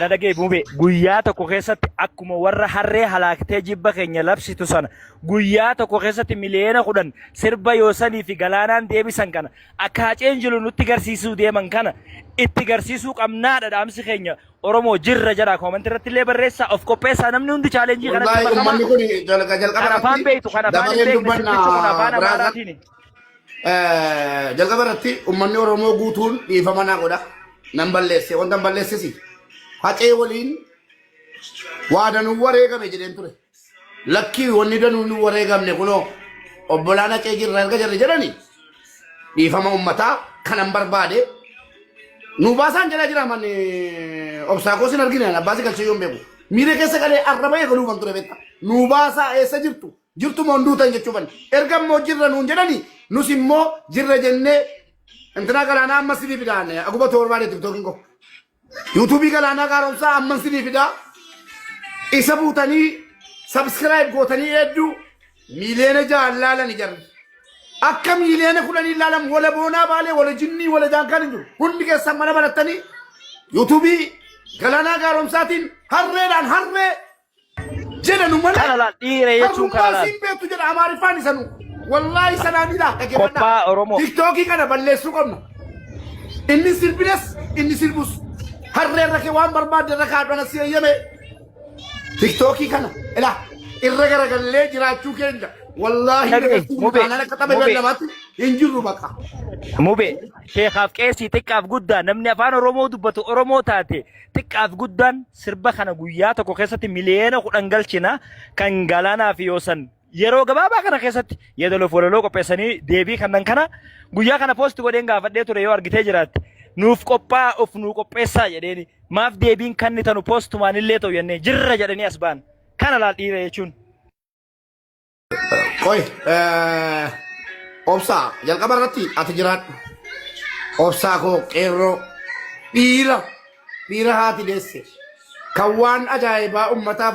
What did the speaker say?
na dhagee mube guyyaa tokko keessatti akkuma warra harree halaaktee jibba keenya labsitu sana guyyaa tokko keessatti miliyoona kudhan sirba yoosanii fi galaanaan deebisan kana akka haceen jiru nutti garsiisuu deeman kana itti garsiisuu qabnaadha dhaamsi keenya Oromoo jirra jedha koomantii irratti illee barreessaa of qopheessaa namni hundi chaalenjii kanatti Wallaahi makamaa ummanni kun jalqa jalqaba kan afaan beektu kan afaan hin dabareen beekne dubbanna sirbichi kun afaan biraazar. amaaraatiini. Eh, jalqaba irratti ummanni Oromoo guutuun dhiifama naa godha. Nan balleesse. Wanta hin balleessisi. Hacee waliin waa danuu wareegame jedheen ture. Lakkii wanni danuu nu wareegamne kunoo obbolaan hacee jirra erga jirra jedhani dhiifama ummataa kanan barbaade nu baasaan jedhaa jira manni obsaa koo sin argine abbaasi galchee yoon beeku. Miira keessa galee arraba eegaluufan ture beekta. Nu baasaa eessa jirtu? Jirtu moo hin duutan jechuu banne. Erga immoo jirra nuun jedhani nus immoo jirra jennee intinaa galaanaa amma sidii fidaan aguba toorbaadee tiktookiin koo. Yuutuubii galaanaa gaaromsaa amman sidii fidaa isa buutanii sabskiraayib gootanii hedduu miiliyoona ja'an laalani jarri. Akka miiliyoona kudhanii laalan wala boonaa baalee wala jinnii wala jaankaan hin jiru. Hundi keessan mana barattanii yuutuubii galaanaa gaaromsaatiin harreedhaan harree jedhanu malee Kana laal dhiira jechuun kana harrummaa laal. siin beektu jedha amaariffaan isanu wallaahi sanaan ilaa dhaggeeffadhaa Qophaa Oromoo. tiktookii kana balleessuu qabna inni sirbinas inni sirbus harree irra kee waan barbaadde irra kaadhana si eeyyame tiktookii kana ilaa irra garagallee jiraachuu keenya wallaahi Tabii, dabarsuun mubee, taanaan akka tapha mubee. beellamaatti hin jirru baqa Mube, sheekaaf qeesii xiqqaaf guddaa namni afaan Oromoo dubbatu Oromoo taate xiqqaaf guddaan sirba kana guyyaa tokko keessatti miliyoona kudhan galchina kan galaanaa fi yoosan yeroo gabaabaa kana keessatti yeedaloof walaloo qopheessanii deebii kannan kana guyyaa kana poosti godheen gaafadhee ture yoo argitee jiraatte nuuf qophaa of nuu qopheessaa jedheeni maaf deebiin kanni tanu poostumaan illee ta'u jennee jirra jedhanii as ba'an kana laal dhiira jechuun. Qoy, eh, obsaa jalqaba irratti ati jiraadhu. Obsaa koo qeerroo dhiira dhiira haati deesse kan waan ajaa'ibaa ummataaf